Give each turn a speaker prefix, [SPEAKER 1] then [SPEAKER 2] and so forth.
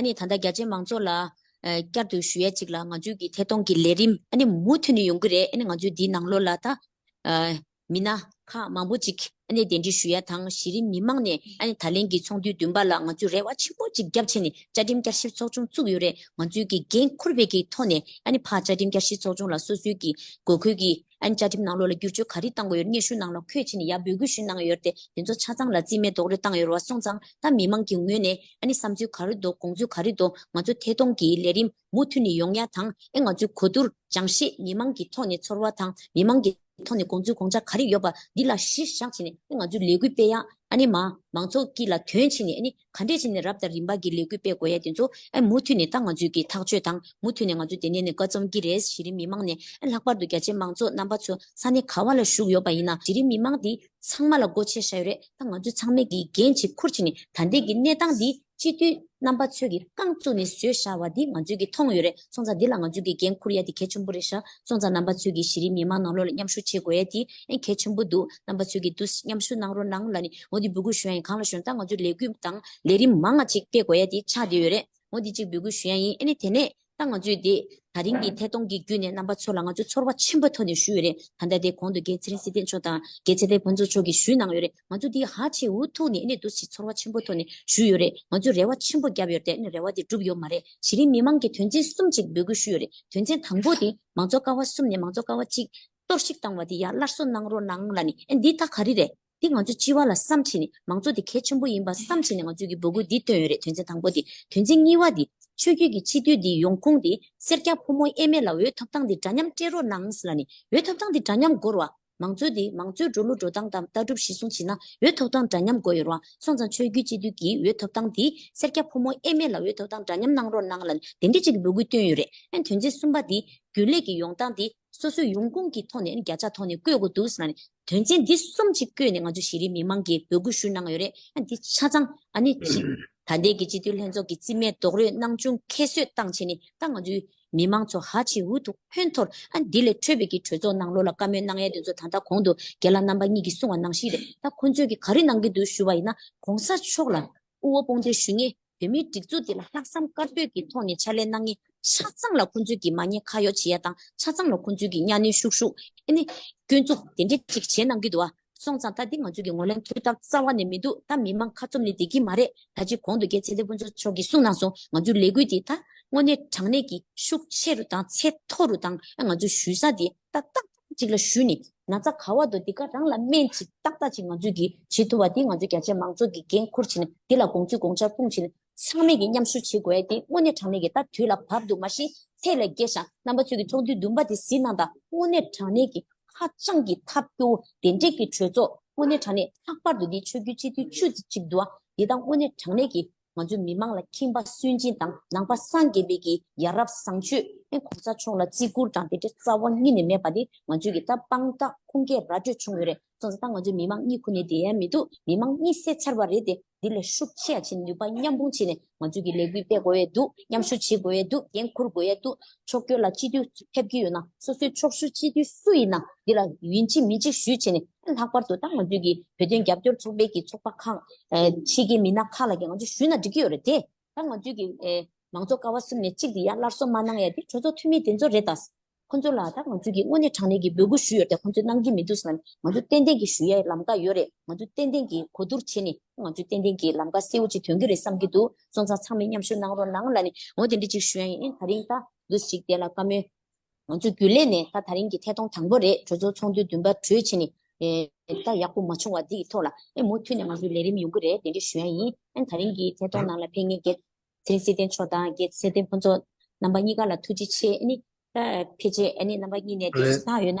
[SPEAKER 1] ཨ་ནི་ད་ལྟ་རྒྱ་ཆེའི་མང་ཚོགས་ལ། བསྐྱར་དུ་ཞུ་ཡ་གཅིག་ལ་ང་ཚོས་ཀྱི་ཐད་གཏོང་གི་ལས་རིམ་ཨ་ནི་མུ་མཐུད་ནས་ཡོང་གི་རེད་ཨ་ནི་ང་ཚོས་འདིའི་ནང་ལོ་ལ་ད། མི་སྣ་ཁག་མང་པོ་ཅིག་ཨ་ནི་གདན་ཁྲི་ཞུ་ཡ་དང་གཞི་རིམ་མི་མང་ནས་ཨ་ནི་ད་ལན་གྱི་ཚོགས་འདུའི་བདུན་པ་ལ་ང་ཚོས་རེ་བ་ཆེན་པོ་ཅིག་རྒྱ་བྱས་ནས་བཅའ་ཁྲིམས་བསྐྱར་ཞིབ་ཚོགས་ཆུང་བཙུགས་ཡོད་རེད་ང་ཚོས་ཀྱི་འགན་འཁུར་བས་ཀྱི་ཐོག་ནས་ཨ་ནི་ཕ་བཅའ་ཁྲིམས་བསྐྱར་ཞིབ་ཚོགས་ཆུང་ལ་སོ་སོའི་ཀྱི་དགོས་མཁོའི་ཀྱི་ཨན་བཅའ་ཁྲིམས་ནང་ལོགས་ལ་བསྒྱུར་བཅོས་ག་རེ་བཏང་དགོས་ཡོད་སྙན་ཞུ་གནང་ན་ཁོས་ཕྱི་ནས་ཡར་འབོད་སྐུལ་ཞུས་གནང་ཡོད་དེ་དེ་ཚོ་ཆ་ཚང་ལ་རྩིས་མེད་རྡོག་རོལ་བཏང་ཡོད་རེད་བ་སོང་ཙང་ད་མི་མང་གི་ངོས་ནས་ཨ་ནི་བསམ་ཚུལ་ག་རེ་འདུག་དགོངས་ཚུལ་ག་རེ་འདུག་ང་ཚོ་ཐད་གཏོང་གི་ལས་རིམ་མུ་མཐུད་ནས་ཡོང་ཡ་དང་ཨེ་ང་ཚོའི་གོ་བསྡུར་སྦྱང་ཤེས་མི་མང་གི་ཐོག་ནས་ཚོར་བ་དང་མི་མང་གི་ཐོག་ནས་དགོངས་ཚུལ་དགོངས་འཆར་ག་རེ་ཡོད་པ་འདི་ལ་གཞི་བཞག་བྱས་ནས་ཨེ་ང་ཚོའི་ལས་འགུལ་སྤེལ་ཡ་ཨ་ནི་མ་མང་ཚོགས་ཀྱི་ལ་དོན་ཕྱིན་ནས་ཨ་ནི། ག་འདྲས་བྱས་ནས་རབ་དང་རིམ་པ་གྱི་ལས་འགུལ་སྤེལ་དགོས་ཡ་དེ་ཚོ་ཨེ་མུ་མཐུད་ནས་ད་ང་ཚོས་ཀྱི་ཐག་གཅོད་དང་མུ་མཐུད་ནས་ང་ཚོ་དེ་ནས་ནས་བཀའ་རྩོམ་གྱི་རེད་གཞི་རིམ་མི་མང་ནས་ཨེ་ལྷག་པར་དུ་རྒྱ་ཆེ་མང་ཚོགས་རྣམ་པ་ཚོ་ས་གནས་ག་བ་ལ་བཞུགས་ཡོད་པ་ཡིན་ན་གཞི་རིམ་མི་མང་དེ་ཚང་མ་ལ་སྒོ་ཕྱེ་ཤ་ཡོད་རེད་ད་ང་ཚོ་ཚང་མས་ཀྱི་འགན་གཅིག་ཁུར་བྱས་ནས་ད་ལྟའི་གྱི་གནས་སྟངས་འདི་སྤྱི་འཐུས་རྣམ་པ་ཚོས་ཀྱི་རྐང་བཙུགས་ནས་བཟོས་ཤ་བ་འདི་ང་ཚོས་ཀྱི་མཐོང་ཡོད་རེད་སོང་ཙང་འདི་ལ་ང་ཚོས་དགེ་རྒན་ཁུར་ཡ་དེ་གལ་ཆེན་པོ་རེད་ཤག་སོང་ཙང་རྣམ་པ་ཚོས་ཀྱིས་གཞི་རིམ་མི་མང་ནང་ལོག་ལ་མཉམ་ཞུགས་བྱེད་དགོས་ཡ་དེ་ཨེ་གལ་ཆེན་པོ་འདུག་རྣམ་པ་ཚོས་ཀྱིས་དུ་མཉམ་ཞུགས་གནང་རོགས་གནང་ལ་ནི་ངོ་དེ་འབོད་སྐུལ་ཞུ་ཡ་ཡིན་གང་ལ་ཞོན་ཏང་ང་ཚོས་ལས་འགུལ་དང་ལས་རིམ་མང་ང་ཅིག་སྤེལ་དགོས་ཡ་དེ་ཆགས་བསྡད་ཡོད་རེད་ངོ་དེ་གཅིག་འབོད་སྐུལ་ཞུ་ཡ་ཡིན་ཨེ་ནི་དེ་ནས་ཏང་ང་ཚོས་དེ་ད་རིང་གི་ཐད་གཏོང་གི་བརྒྱུད་ནས་རྣམ་པ་ཚོ་ལ་ང་ཚོས་ཚོར་བ་ཆེན་པོ་ཐོག་ནས་ཞུས་ཡོད་རེད་ད་ལྟ་དེ་གོང་དུ་རྒན་ཚེ་རིང་སྲིད་སྟེགས་མཆོག་དང་རྒན་ཚེ་དཔལ་ཕུན་ཚོགས་མཆོག་གིས་ཞུས་གནང་ཡོད་རེད། ང་ཚོ་འདི་ཧ་ཅིག་འུ་ཐུག་ནས་ཨེ་འདུག་ཅིག་ཚོར་བ་ཆེན་པོ་ཐོག་ནས་ཞུས་ཡོད་རེད་ང་ཚོས་རེ་བ་ཆེན་པོ་བརྒྱབ་ཡོད་དེ་རེ་བ་དེ་འགྲུབ་ཡོད་མ་རེད་གཞི་རིམ་མི་མང་གི་དོན་ཚན་གསུམ་ཅིག་འབོད་སྐུལ་ཞུས་ཡོད་རེད་དོན་ཚན་དང་པོ་དེ་མང་ཚོགས་ཀ་བ་གསུམ་ནས་མང་ཚོགས་ཀ་བ་གཅིག་གཏོར་བཤིག་བཏང་བ་དེ་ཡར་སླར་གསོ་གནང་རོགས་གནང་ལ་ནི་ཨེ་འདི་ད་ག་རེ་རེད་དེ་ང་ཚོས་སྤྱི་བ་ལ་བསམ་ཕྱིན་ནས་མང་ཚོགས་དེ་གལ་ཆེན་པོ་ཡིན་པ་བསམ་ཕྱིན་ནས་ང་ཚོས་ཀྱི་འབོད་སྐུལ་འདི་བཏོན་ཡོད་རེད་དོན་ཚན་དང་པོ་དེ་དོན་ཚན་གཉིས་བ་དེ་ཆོས་རྒྱུད་ཀྱི་སྤྱི་འཐུས་དེ་ཡོང་ཁུངས་དེ་སེར་སྐྱ་ཕོ་མོ་དབྱེ་མེད་ལ་འོས་ཐོབ་ཐང་དེ་འདྲ་མཉམ་སྤྲད་རོགས་གནང་ལ་ནི་འོས་ཐོབ་ཐང་དེ་འདྲ་མཉམ་འགོར་བ་མང་གཙོ་དེ་མང་གཙོའི་འགྲོ་ལུགས་འགྲོ་སྟངས་དང་ལྟ་གྲུབ་གཞི་བཟུང་བྱས་ན་འོས་ཐོབ་སྟངས་འདྲ་མཉམ་དགོས་ཡོད་རུང་སོང་ཙང་ཆོས་བརྒྱུད་སྤྱི་འཐུས་ཀྱི་འོས་ཐོབ་སྟངས་དེ་སེར་སྐྱ་ཕོ་མོ་དབྱེ་མེད་ལ་འོས་ཐོབ་སྟངས་འདྲ་མཉམ་གནང་རོགས་གནང་ལ་དེ་འདྲའི་ཅིག་གི་འབོད་སྐུལ་བཏོན་ཡོད་རེད་ཨན་དོན་ཚན་གསུམ་པ་དེ་རྒྱུན་ལས་ཀྱི་ཡོང་སྟངས་དེ་སོ་སོའི་ཡོང་ཁུངས་ཀྱི་ཐོག་ནས་ཨན་བརྒྱ་ཆ་ཐོག་ནས་བཀོད་དགོས་འདུག་ཟེར་ན་དོན་ཚན་འདི་གསུམ་ཅིག་བཀོད་ནས་ང་ཚོ་གཞི་རིམ་མི་མང་གིས་འབོད་སྐུལ་ཞུ་གནང་ཡོད་རེད་ཨན་དེ་ཆ་ཚང་ཨ་ནི་ད་ལྟའི་གི་སྤྱི་འཐུས་ལྷན་ཚོགས་ཀྱི་རྩིས་མེད་རྡོག་རོལ་གནང་བྱུང་ཁྱད་གསོད་སྟངས་བྱས་ནས་ད་ང་ཚོའི་མི་མང་ཚོ་ཧ་ཅིག་འུ་ཐུག་ཕོན་ཐོར་ཨ་འདི་ལས་འཕྲོས་པའི་གི་གྲོས་ཚོགས་ནང་ལོ་ལ་བཀའ་མོལ་གནང་ཡས་དེ་ཚོ་ད་ལྟ་གོང་དུ་རྒན་ལགས་རྣམ་པ་གཉིས་ཀྱིས་གསུང་བ་ནང་བཞིན་རེད་ད་ཁོང་ཚོས་གི་ག་རེ་གནང་གི་འདུག་ཞུ་བ་ཡིན་ན་གོང་ས་མཆོག་ལ་དབུ་བ་དཔུང་སྡེར་ཞུ་ངེས་བོད་མིའི་སྒྲིག་འཛུགས་འདི་ལ་ལྷག་བསམ་དཀར་པོས་གི་ཐོག་ནས་ཕྱག་ལས་གནང་ངེས་ཆ་ཚང་ལ་ཁོང་ཚོས་གི་མ་ཉེས་ཁ་གཡོག་བྱེད་ཡ་དང་ཆ་ཚང་ལ་ཁོང་ཚོས་གི་གཉའ་གནོན་ཤུགས་ཤུགས་ཨ་ནི་སྐྱོན་འཛུགས་དེ་འདྲས་ཅིག་བྱེད་གནང་གི་འདུག་ཨ། སོང་ཙང་ད་འདི་ང་ཚོ་གི་ངོ་ལེན་ཐུགས་དམ་རྩ་བ་ནས་མི་འདུག་ད་མི་མང་ཁ་ཚུམ་ནི་བསྡད་ཀྱི་མ་རེད་ད་ཅི་གོང་དུ་རྒྱལ་ཚེ་ལྷའི་ཕུན་ཚོགས་མཆོག་གིས་གསུངས་གནང་སོང་ང་ཚོའི་ལས་འགུལ་འདི་ད་དངོས་གནས་དྲང་གནས་ཀྱི་ཤུགས་ཆེ་རུ་དང་ཚད་མཐོ་རུ་དང་ང་ཚོའི་ཞུས་ས་འདི་ད་ཏག་ཏག་ཅིག་ལ་ཞུས་ནས་ན་ཚ་ག་བ་འདུག་འདི་ག་རང་ལ་སྨན་ཅིག་ཏག་ཏག་ཅིག་ང་ཚོས་ཀྱིས་བྱེད་ཐུབ་པ་འདི་ང་ཚོའི་རྒྱ་ཆེའི་མང་ཚོགས་ཀྱི་འགན་འཁུར་བྱེད་ནས་འདི་ལ་དགོངས་ཚུལ་དགོངས་འཆར་སྤུངས་བྱེད་ནས་ཚང་མེད་ཀྱི་མཉམ་ཞུགས་བྱེད་དགོས་ཏེ་དངོས་གནས་དྲང་གནས་ཀྱི་ལྟ་དུས་ལ་བབ་འདུག་མ་གཞི་ཚད་ལས་བརྒལ་ཞིང་རྣམ་པ་ཚོས་ཀྱི་ཚོགས་འདུའི་བདུན་པ་དེ་ཟིན་གནང་དང་དངོས་གནས་དྲང་གནས་ཀྱི་ཧ་ཅང་གི་ཐབས་སྐྱོ་བོ་དེ་འབྲེལ་གྱི་གྲོས་ཚོགས་དངོས་གནས་དྲང་གནས་ལྷག་པར་དུ་འདིའི་ཆོས་བརྒྱུད་སྤྱི་འཐུས་བཅུ་གཅིག་འདུ་བ་འདི་དང་དངོས་གནས་དྲང་གནས་ཀྱི་ང་ཚོའི་མི་མང་ལ་ཁྱིམ་པ་སུན་འབྱིན་དང་ནང་པ་སངས་རྒྱས་འབེལ་གྱི་ཡ་རབས་བཟང་སྤྱོད་ཨེ་གོང་ས་མཆོག་ལ་བརྩི་བཀུར་དང་དེ་འདྲའི་རྩ་བ་གཉིས་ནས་མེད་པ་དེ་ང་ཚོས་ཀྱི་ད་དཔང་རྟགས་ཁུངས་སྐྱེལ་ར་སྤྲོད་བྱུང་ཡོད་རེད། ཚོགས་ས་དང་ང་ཚོའི་མི་མང་གཉིས་ཁོ་ནའི་འབྲེལ་ཡ་མི་འདུག་མི་མང་གཉིས་བསད་ཚར་བ་རེད་དེ། འདི་ལས་ཤུགས་ཆེ་ཡང་བྱེད་ནུས་པ་མཉམ་སྤུངས་བྱས་ནས་ང་ཚོས་ཀྱི་ལས་འགུལ་སྤེལ་དགོས་ཡས་འདུག་མཉམ་ཞུགས་བྱེད་དགོས་ཡས་འདུག་འགན་འཁུར་དགོས་ཡས་འདུག་ཕྱོགས་སྐྱོད་ལ་སྤྱི་འཐུས་ཕེབས་ཀྱི་ཡོད་ན་སོ་སོའི་ཕྱོགས་ཞུ་སྤྱི་འཐུས་སུ་ཡིན་ན་འདི་ལ་ཡིན་གཅིག་མིན་གཅིག་ཞུས་བྱས་ནས་ལྷག་པར་དུ་ད་ང་ཚོས་ཀྱི་བོད་དོན་རྒྱབ་སྐྱོར་ཚོགས་པའི་ཀྱི་ཚོགས་པ་ཁག་ཕྱིའི་ཀྱི་མི་སྣ་ཁག་ལ་ཀྱི་ང་ཚོས་ཞུས་ན་འགྲིག་གི་ཡོད་རེད་དེ། ད་ང་ཚོའི་གི་མང་ཚོགས་ཀ་བ་གསུམ་ནས་གཅིག་དེ་ཡ་སླར་གསོ་མ་གནང་ཡ་དེ་གྲོས་ཚོགས་འཐུས་མི་དེ་ཚོ་རེད་ད། ཁོ་ཚོ་ལ་ད་ང་ཚོའི་གི་དངོས་གནས་དྲང་གནས་གི་འབོད་སྐུལ་ཞུ་ཡོད་ད་ཁོ་ཚོས་གནང་གི་མི་འདུག་ཟེར་ན་ནི་ང་ཚོ་ཏན་ཏན་གི་ཞུ་ཡའི་ལམ་ཀ་ཡོད་རེད་ང་ཚོ་ཏན་ཏན་གི་གོ་བསྡུར་བྱེད་ནི་ང་ཚོས་ཏན་ཏན་གི་ལམ་ཀ་གསལ་བོ་ཅིག་དོན་གི་རེད་བསམ་གི་འདུག་སོང་ཙང་ཚང་མས་མཉམ་ཞུ་གནང་རོགས་གནང་ལ་ནི་ངོ་དེ་འདྲི་ཅིག་ཞུ་ཡ་ཡིན་ད་རིང་ད་ལུས་ཞིག་དེ་ལ་བཀའ་མོལ། ང་ཚོ་རྒྱུན་ལས་ནས་ད་ད་རིང་གི་ཐད་གཏོང་དང་པོ་རེད་གྲོས་ཚོགས་ཚོགས་འདུའི་འདུན་པ་གྲོས་ཆེ་ནི། ད་ཡག་པོ་མ་བྱུང་བ་འདི་ཡི་ཐོག་ལ་ཨེ་མུ་མཐུད་ནས་ང་ཚོའི་ལས་རིམ་ཡོང་གི་རེད་དེ་འདྲི་ཞུ་ཡ་ཡིན་ཨན་ད་རིང་གི་ཐད་གཏོང་ནང་ལ་ཕེ་ངེ་རྒྱལ། མཚན་སྲིད་བསྟན་མཆོག་དང་རྒྱལ་སྲིད་བསྟན་ཕུན་ཚོགས་རྣམ་པ་གཉིས་ཀ་ལ་ཐུགས་རྗེ་ཆེ་ཨེ་ནི། ད་ཕེ་ཆེ་ཨེ་ནི་རྣམ་པ་གཉིས་ནས་འདི་རེད་ད་ཡོད་ན།